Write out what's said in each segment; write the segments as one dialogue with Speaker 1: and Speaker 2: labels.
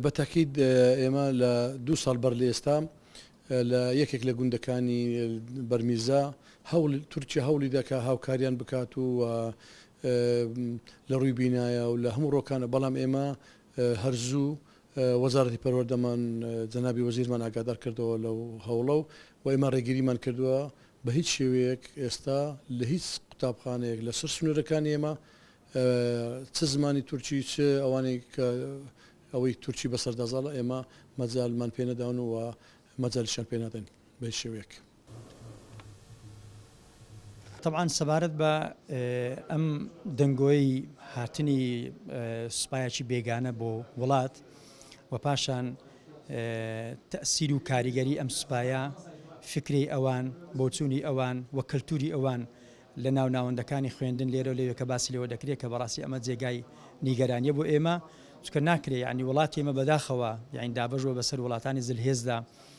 Speaker 1: بە تەکید ئێمە لە دوو ساڵ بەر لە ئێستا لە یەکێک لە گوندەکانی بەرمیرزا هەوڵ تورکیا هەوڵی دەکا هاوکاریان بکات و لە ڕووی بینایە و لە هەموو ڕۆکانە بەڵام ئێمە هەر زوو وەزارەتی پەروەردەمان جەنابی وەزیرمان ئاگادار کردەوە لەو هەوڵە و ئێمە ڕێگریمان کردووە بە هیچ شێوەیەک ئێستا لە هیچ قوتابخانەیەک لە سەر سنوورەکانی ئێمە چ زمانی تورکی چ ئەوانەی کە ئەوەی تورکی بەسەردا زاڵە ئێمە مەجالمان پێ نەداون و مەجالیشیان پێ نادەین بە هیچ شێوەیەک.
Speaker 2: تەبعەن سەبارەت بە ئەم دەنگۆی هاتنی سوپایەکی بێگانە بۆ وڵات و پاشان تەسیر و کاریگەری ئەم سوپایە فکری ئەوان بۆچوونی ئەوان و کەلتوری ئەوان لە ناو ناوەندەکانی خوێندن لێرە لەوێ کە باسی لەوە دەکرێت کە بەڕاستی ئەمە جێگای نیگەرانیە بۆ ئێمە چکە ناکرێ ینی وڵاتی ئمە بەداخەوە یاین دابژوە بەسەر وڵاتانی زلهێزدا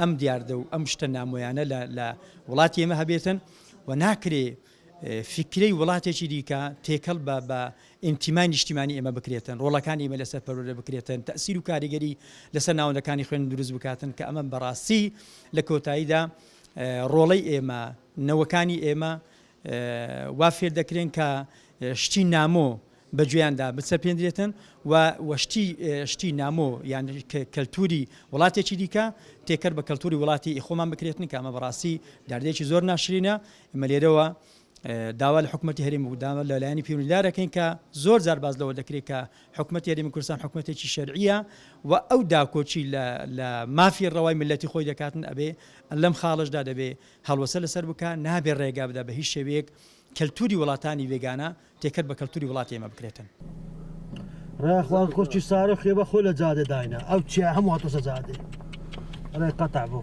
Speaker 2: ئەم دیاردە و ئەم شتە نامۆیانە لە لە وڵاتی ئێمە هەبێتن و ناکرێ فکرەی وڵاتێکی دیکە تێکەڵ بە بە ئینتیمای نیشتیمانی ئێمە بکرێتن ڕۆڵەکانی ئمە لەسەر پەرۆرە بکرێتن تەسیر و کاریگەری لەسەر ناوەندەکانی خوێن دروست بکاتن کە ئەمە بەڕاستی لە کۆتاییدا ڕۆڵەی ئێمە نەوەکانی ئێمە وا فێر دەکرێن کە شتی نامۆ بە گوێیاندا بچەپێندرێتن و وەشتی شتی نامۆ یان کەلتوری وڵاتێکی دیکە تێکەر بە کەلتوری وڵاتی خۆمان بکرێتن کە ئەمە بەڕاستی داردێکی زۆر ناشرینە ئمە لێرەوە داوا لە حکوومەتتی هەرێم و داوا لە لایەنی پیوندارەکەین کە زۆر زار باز لەوە دەکرێت کە حکوومەت یاریمی کوردستان حکوومەتێکی شەرعە و ئەو داکۆچی لە مافی ڕەوای ملەتی خۆی دەکاتن ئەبێ لەم خاڵشدا دەبێ هەڵوەسە لەسەر بکا، نابێ ڕێگا بدا بە هیچ شێوەیەک کەلتووری وڵاتانی بێگانە تێکەل بە کەلتووری وڵاتی ئێمە بکرێتن.
Speaker 3: ڕێ خوان خورچی سارە خوێ بە خۆ لە جادە داینا ئەو چیا هەموو هاتۆسە جادێ ڕێ قەتع بوو.